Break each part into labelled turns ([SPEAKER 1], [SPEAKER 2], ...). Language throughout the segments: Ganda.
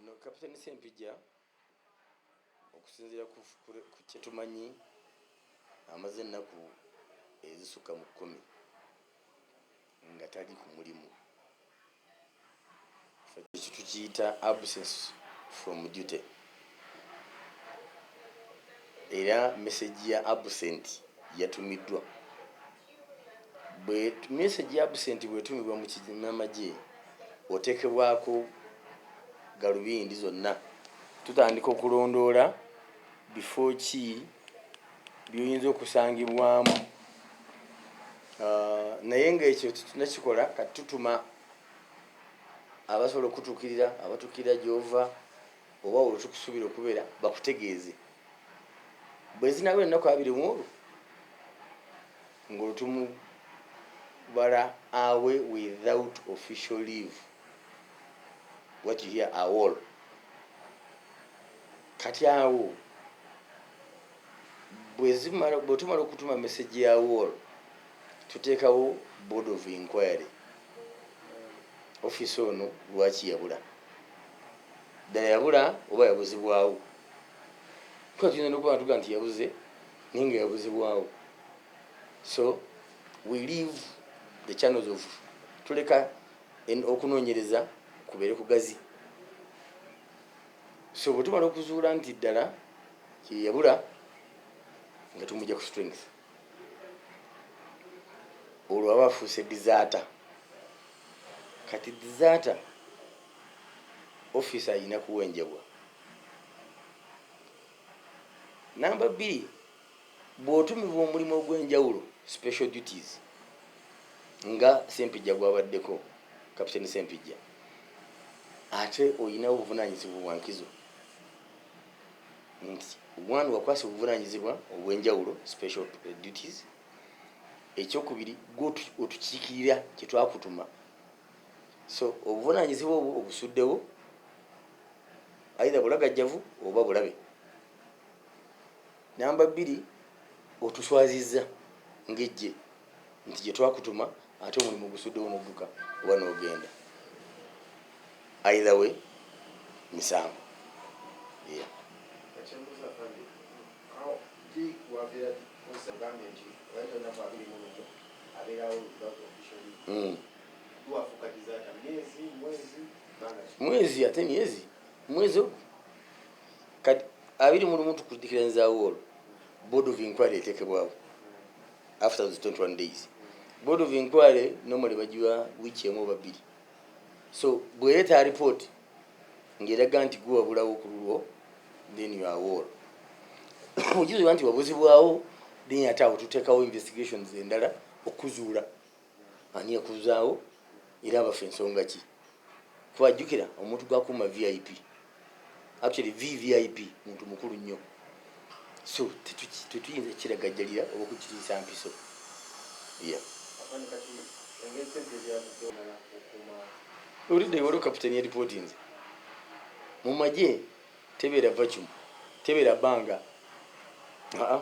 [SPEAKER 1] No Captain Sempijja okusinziira ku kyetumanyi amaze ennaku ezisukka mu kkumi nga tali ku mulimu. Ekyo tukiyita absence from duty era message ya absent yatumiddwa. Bwe message ya absent bwetumibwa mu kinamagye otekebwako galubindi zonna. Tutandika okulondoola bifo ki? byoyinza okusangibwamu ah, naye ngaekyo tetunakikola kati tutuma abasobola okutukirira abatukirira gyova oba olwo tukusubira okubeera bakutegeeze bwezinaba ennaku abiri muolwo ngaolutumubala awe without official leave what you hear awall Kati awo bwezimala bwetumala okutuma message ya wall tutekawo board of inquiry office ono lwaki yabula ddala yabula oba yabuzibwawo kuba tuyinza nokuba natuga nti yabuze naye nga yabuzibwawo so we leave the channels of tuleka okunoonyereza kubeere kugazi so bwetumala okuzuula nti ddala yeyabula nga tumugya ku strength olwo aba afuuse disaata kati disaata office ayina kuwenjebwa namba bbiri Bw'otumibwa omulimu ogw'enjawulo, special duties, nga Ssempijja gw'abaddeko, Captain Ssempijja, ate olina obuvunaanyizibwa bwa nkizo nti one wakwasibwa obuvunaanyizibwa obw'enjawulo, special duties, ekyokubiri gwe otukiikirira kye twakutuma so obuvunaanyizibwa obwo obusuddewo aidha bulagajjavu oba bulabe. namba bbiri otuswazizza ngejje nti gyetwakutuma ate omulimu gusuddewo nodduka oba nogenda aidha we misango hmm. mwezi ate myezi mwezi ogu kati abiri mu lumu tukudikira nzaawo olwo board of inquiry etekebwawo after those 21 days board of inquiry normally bagiwa wiiki emu oba bbiri so bwereeta report ng'eraga nti gwe wabulawo ku lulwo then you are wall okizuula nti wabuzibwawo then ate awo tuteekawo investigations endala okuzuula Ani yakuzaawo era abaffe nsonga ki? Kuba jukira omuntu gwakuuma vip actually VVIP muntu mukulu nnyo so tetuyinza kukiragajjalira oba okukitiisa mpiso yeah. Olidde waliwo kaputeni yalipotinze mu magye tebeera vacuum tebeera banga aa.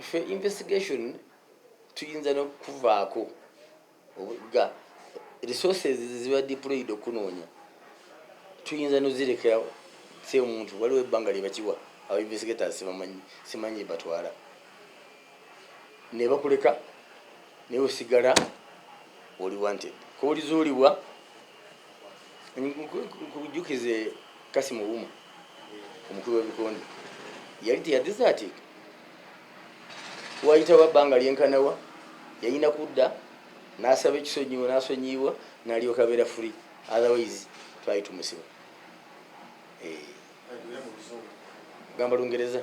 [SPEAKER 1] Ffe investigation tuyinza nokuvaako nga resources ziba deployed okunoonya tuyinza nozirekera si omuntu waliwo ebbanga lyebakiwa aba investigators sibamanyi simanyi batwala nebakuleka naye osigala oli wanted kolizuulibwa nkujukize kasimu wuma omukulu w'ebikonde yali teyadizaatika wayitawo abbanga lyenkanawa yalina kudda n'asaba ekisonyiwo n'asonyiibwa n'alyoka abeera fuli otherwise twali tumusiba eh. gamba lungereza